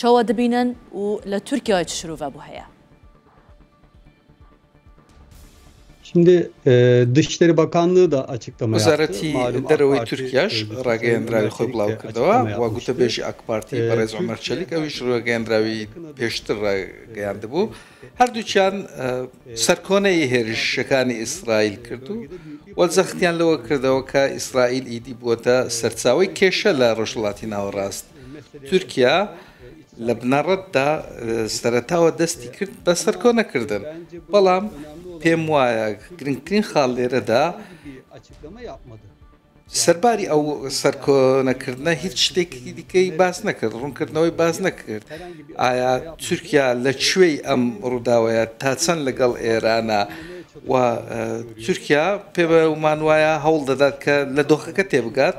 چوا دبینن و لە تورکیای چ شروڤە بو هەیە؟ وەزارەتی دەرەوەی تورکیاش ڕاگەیەندراوی خۆی بڵاوکردەوە و گوتەبێژی ئاکپارتی بەڕێز عومەر چەلیک ئەویش ڕاگەیەندراوی پێشتر ڕایگەیاندبوو هەردووکیان سەرکۆنەی هێرشەکانی ئیسرائیل کرد و وە جەختیان لەوە کردەوە کە ئیسرائیل ئیدی بووەتە سەرچاوەی کێشە لە ڕۆژهەڵاتی ناوەڕاست. تورکیا لە بنەڕەتدا سەرەتاوە دەستی کرد بە سەرکۆنەکردن بەڵام پێم وایە گرنگترین خاڵ لێرەدا سەرباری ئەو سەرکۆنەکردە هیچ شتێکی دیکەی باس نەکرد ڕوونکردنەوەی باز نەکرد ئایا تورکیا لە کوێی ئەم ڕووداوەیە تا چەند لەگەڵ ئێرانە و تورکیا پێ بە ومان وایە هەوڵ دەدات کە لە دۆخەکە تێبگات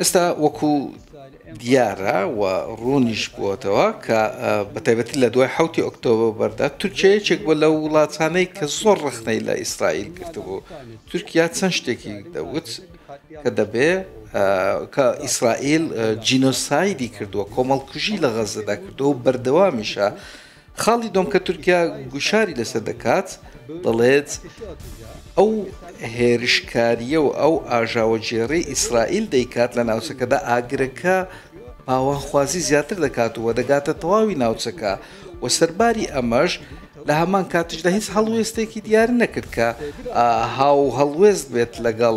ئێستا وەکو دیارە و ڕوونیش بووەتەوە کە بە تایبەتی لە دوای حوتی ئۆکتۆبەردا تورکیا یەکێک بۆ لە وڵاتانەی کە زۆر ڕخنەی لە ئیسرائیل گرتبوو تورکیا چەند شتێکی دەوت کە دەبێ کە ئیسرائیل جینۆسایدی کردووە کۆمەڵکوژی لە غەزەدا کردو و بەردەوامیشە خاڵی دووەم کە تورکیا گوشاری لەسەر دەکات دەڵێت ئەو هێرشکاریە و ئەو ئاژاوەگێڕی ئیسرائیل دەیکات لە ناوچەکەدا ئاگرەکە پاوانخوازی زیاتر دەکات و دەگاتە تەواوی ناوچەکە و سەرباری ئەمەش لە هەمان کاتیشدا هیچ هەڵوێستێکی دیار نەکرد کە هاو هەڵوێست بێت لەگەڵ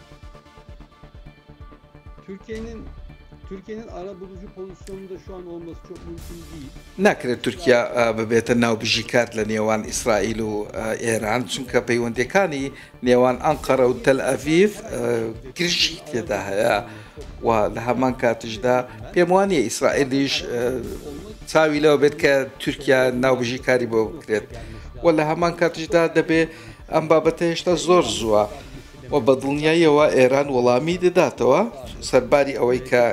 ناکرێت تورکیا ببێتە ناوبژی کار لە نێوان ئیسرائیل و ئێران، چونکە پەیوەندییەکانی نێوان ئەنقەرە و تەلئەڤیڤ گرژی تێدا هەیە و لە هەمان کاتیشدا پێم وانییە ئیسرائیلیش چاوی لەوە بێت کە تورکیا ناوبژی کاری بۆ بکرێت و لە هەمان کاتیشدا دەبێت ئەم بابەتە هێشتا زۆر زووە. و بە دڵنیاییەوە ئێران وەڵامی دەداتەوە، سەرباری ئەوەی کە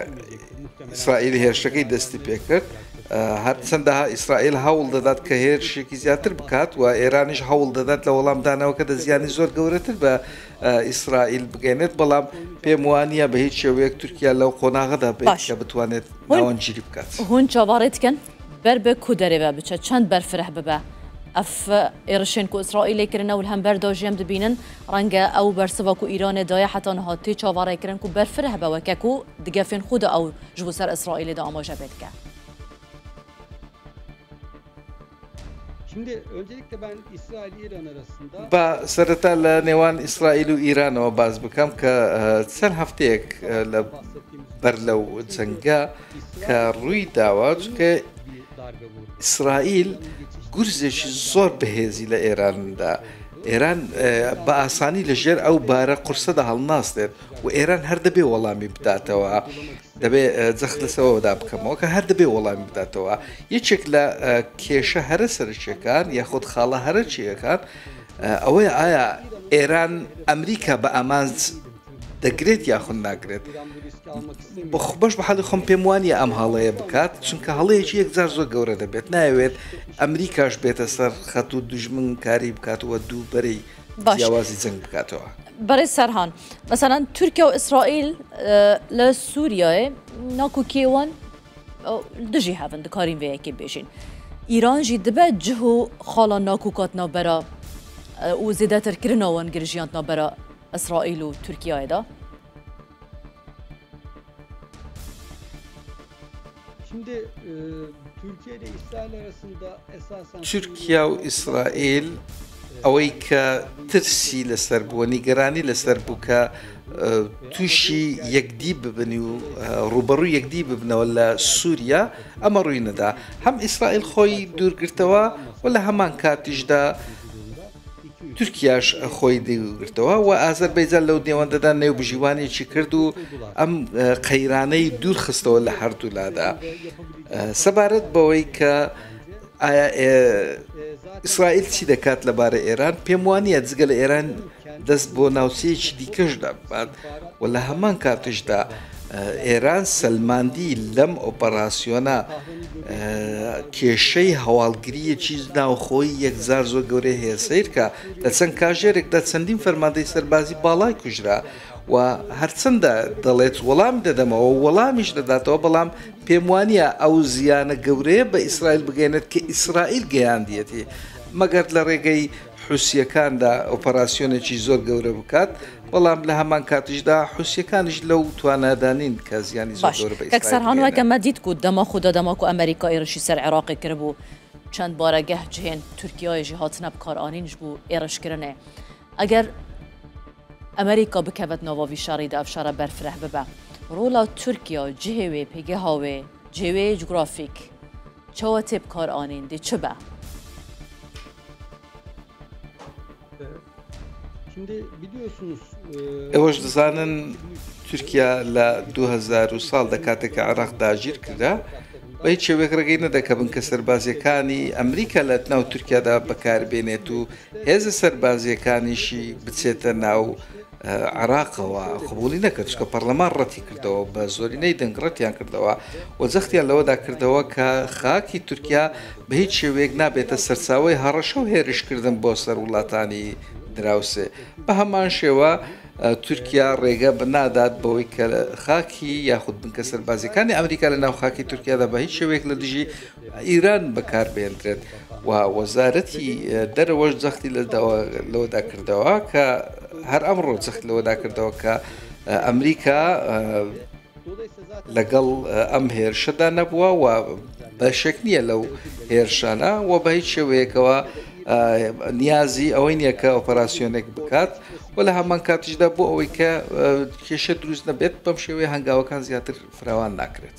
ئیسرائیل هێرشەکەی دەستی پێکرد، هەرچەندە ئیسرائیل هەوڵ دەدات کە هێرشێکی زیاتر بکات و ئێرانیش هەوڵ دەدات لە وەڵامدانەوەکەدا زیانی زۆر گەورەتر بە ئیسرائیل بگەێنێت، بەڵام پێم وانە بە هیچ شێوەیەک تورکیا لەو قۆناغەدا بێت کە بتوانێت ناوەنجیری بکات. هون چاوەڕێتکەن؟ بەر بە کو دەرێبە بچە چەند بەر فرە ببە ئەف ئێڕشێن کو ئیسرائیل لێ کرنە ول هەم بەر داژێم دبینن ڕەنگە ئەو بەر سڤا کو ئیرانێ دایە حەتا نها تێ چاوەڕێ کرن کو بەر فرە بەوە کە کو دگەفێن خو دا ئەو ژ بو سەر ئیسرائیلێ دا ئاماژە بێ دکە. با سەرەتا لە نێوان ئیسرائیل و ئیرانەوە باس بکەم کە چەند هەفتەیەک لە بەر لەو جەنگە، کە ڕووی داوە چکە ئیسرائیل گورزێکی زۆر بەهێزی لە ئێراندا ئێران بە ئاسانی لە ژێر ئەو بارە قورسەدا هەڵناستێت و ئێران هەر دەبێ وەڵامی بداتەوە دەبێ جەخت لەسەوەدا بکەمەوە کە هەر دەبێ وەڵامی بداتەوە یەکێک لە کێشە هەرە سەرچیەکان یاخود خاڵە هەرە چیەکان ئەوەی ئایا ئێران ئەمریکا بە ئامانج دەگرێت یاخود ناگرێت بەش بە حەڵی خۆم پێم وانە ئەم هەڵەیە بکات چونکە هەڵەیەکی یەکجار زۆر گەورە دەبێت ناوێت ئەمریکاش بێتە سەر خەت و دژمن کاری بکاتەوە دوو بەری باشوازی جەنگ بکاتەوە بەێ سەرهان مەسەەن تورکیا و ئیسرائیل لە سووریای ناکو کێوان دژی هەبن دکارین وەیەکی بێژین ئیرانژی دبێت جه و خاڵان ناکو کات نابەرە و زیدەترکردنەوەن گرژیان نابەرە ئیسرائیل و تورکیایدا. تورکیا و ئیسرائیل ئەوەی کە ترسی لەسەر بووە نیگەرانی لەسەر بوو کە تووشی یەکدی ببن و ڕوبەڕوو یەکدی ببنەوە لە سووریا ئەمە ڕووی نەدا هەم ئیسرائیل خۆی دوورگرتەوە و لە هەمان کاتیشدا تورکیاش خۆی دیلگرتەوە و ئازەر بەیجان لەو نێوەندەدا نێوبژیوانێکی کرد و ئەم قەیرانەی دوورخستەوە لە هەردوولادا سەبارەت بەوەی کە ئیسرائیل چی دەکات لەبارە ئێران پێم وانە جگە لە ئێران دەست بۆ ناوچەیەکی دیکەش دەبات و لە هەمان کاتیشدا ئێران سەلماندی لەم ئۆپەراسیۆنە کێشەی هەواڵگریەکی ناوخۆی یەکزار زۆر گەورەی هەیە سیرکە لە چەند کاژێرێکدا چەندین فەرماندەی سەربازی باڵای کوژرا و هەرچەندە دەڵێت وەڵام دەدەمەوە وەڵامیش دەداتەوە بەڵام پێم وانە ئەو زیانە گەورەیە بە ئیسرائیل بگەێنێت کە ئیسرائیل گەیاندیەتی مەگەر لە ڕێگەی حوسییەکاندا ئۆپەراسیۆنێکی زۆر گەورە بکات، بەڵام لە هەمان کاتیشدا حوسییەکانیش لەو توانایەدا نین کە زیانی زۆر گەورە بە ئیسرائیل بگەێنێ. ئێوەش دەزانن تورکیا لە 2000 ساڵ دەکاتێکە عراق داگیر کرا بە هیچ شێوێک ڕێگەی نەدەکەبن کە سەربازیەکانی ئەمریکا لە ناو تورکیادا بەکاربێنێت و هێزە سەربازیەکانیشی بچێتە ناو عێراقەوە قبوڵی نەکرد، چونکە پەڕلەمان ڕەتی کردەوە، بە زۆرینەی دەنگ ڕەتیان کردەوە و جەختیان لەوەدا کردەوە کە خاکی تورکیا بە هیچ شێوەیەک نابێتە سەرچاوەی هەڕەشە و هێرشکردن بۆ سەر وڵاتانی دراوسێ. بە هەمان شێوە تورکیا ڕێگە نادات بەوەی کە خاکی یاخود بنکە سەربازیەکانی ئەمریکا لە ناو خاکی تورکیادا بە هیچ شێوەیەک لە دژی ئیران بەکاربهێندرێت و وەزارەتی دەرەوەش جەختی لەوەدا کردەوە کە هەر ئەمڕۆ جەخت لەوەدا کردەوە کە ئەمریکا لەگەڵ ئەم هێرشەدا نەبووە و بەشێک نییە لەو هێرشانە و بە هیچ شێوەیەکەوە نیازی ئەوەی نییە کە ئۆپەراسسیۆنێک بکات و لە هەمان کاتیشدا بۆ ئەوەی کە کێشە دروست نەبێت بەم شێوەیە هەنگاوەکان زیاتر فراوان ناکرێت.